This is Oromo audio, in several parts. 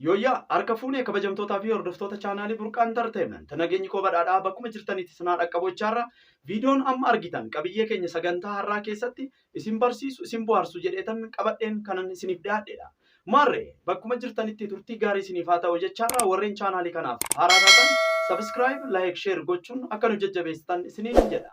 Yooyyaa! Harka fuune kabajamtootaa fi hordoftoota chaanaalii Burqaa Entertainment. Nageenyi koo badhaadhaa bakkuma jirtanitti isin haa dhaqqabu jechaa irra viidiyoon amma argitan qabiyyee keenya sagantaa har'aa keessatti isin barsiisu, isin bohaarsu jedheetan qabadheen kanan isiniif dhiyaadheedha. Maarree bakkuma jirtanitti turtii gaarii isiniif haa ta'u jechaa irra warreen chaanaalii kanaaf haaraa taatan subscribe, like, share gochuun akka nu jajjabeessitan isiniin jedha.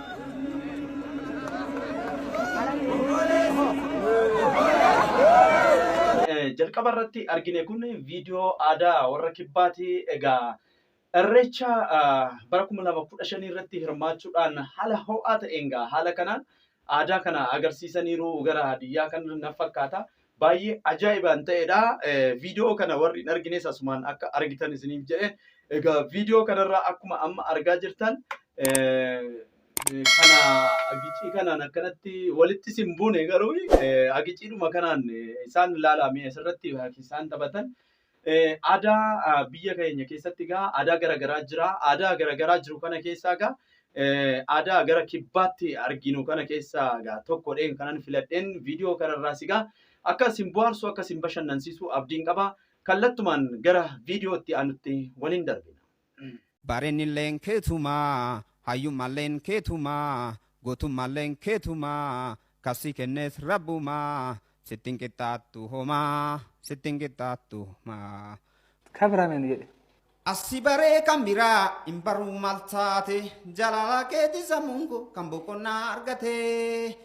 Jalqaba irratti argine kun viidiyoo aadaa warra kibbaati. Egaa irreecha bara kuma lama kudha shanii irratti hirmaachuudhaan haala ho'aa ta'een gaa haala kanaan aadaa kana agarsiisaniiru gara biyyaa kan na fakkaata. Baay'ee ajaa'ibaan ta'edha. Viidiyoo kana warri hin argines asumaan akka argitan isiniif jedhe. Egaa viidiyoo kanarraa akkuma amma argaa jirtan kana agicii kanaan akkanatti walitti isin buune garuu agiciidhuma kanaan isaan ilaalaa mee asirratti isaan taphatan. Aadaa biyya keenya keessatti egaa aadaa gara garaa jira. Aadaa gara garaa jiru kana keessaa egaa aadaa gara kibbaatti arginu kana keessaa egaa tokkodheen kanan filadheen viidiyoo kanarraas egaa akka isin bohaarsu akka isin bashannansiisu abdiin qaba. Kallattumaan gara viidiyootti aanutti waliin darbina. Bareedinilleen keetuma, hayyummaalleen keetuma, gootummaalleen keetuma, kan si kennes Rabbuma, sitti hin qixxaattu homa, sitti hin qixxaattu homa. Kabira mee nu jedhi. As si baree kan biraa hin baruu maal taate, jaalala keetiin sammuun koo kan boqonnaa argate.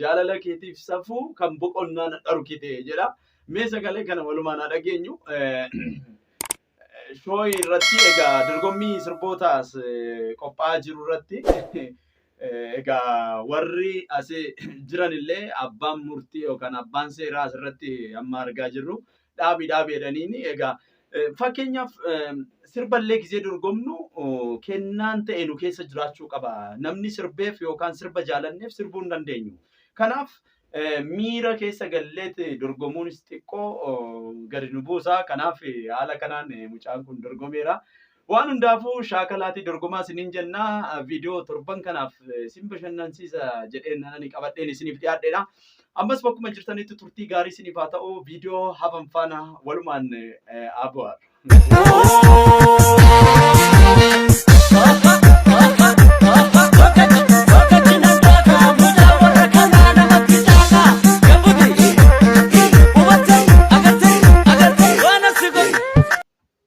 Jaalala keetiif safuu kan boqonnaa na dhorkite jedha. Mee sagalee kana walumaan haa dhageenyu. Shooyi irratti egaa dorgommii sirbootaas qophaa'aa jiru irratti egaa warri asii jiran illee abbaan murtii yookaan abbaan seeraa asirratti amma argaa jirru dhaabi dhaabi jedhaniini egaa eh, fakkeenyaaf eh, sirballee gizee dorgomnu oh, kennaan ta'e nu keessa jiraachuu qaba namni sirbeef yookaan sirba jaalanneef sirbuu hin dandeenyu kanaaf eh, miira keessa galleet dorgomuunis xiqqoo oh, gadi nu buusa kanaaf eh, haala kanaan eh, mucaan kun dorgomeera Waan hundaafuu shaakalaatii dorgomaa isiniin jenna viidiyoo torban kanaaf isin bashannansiisa jedheen ani qabadheen isiniif dhiyaadheedha. Ammas bakkuma jirtanitti turtii gaarii isiniif haa ta'u viidiyoo hafan faana walumaan haa bu'aadha.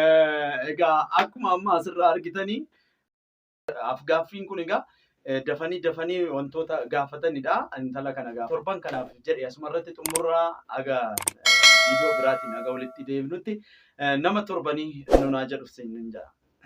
Eh, Egaa akkuma amma asirraa argitanii afgaaffiin kun egaa eh, dafanii dafanii wantoota gaafatanidha. Intala kana egaa torban kanaaf jedhe asuma irratti xumurraa aga viidiyoo biraatiin aga walitti deebinutti eh, nama torbanii nunaa jedhu siin jedha.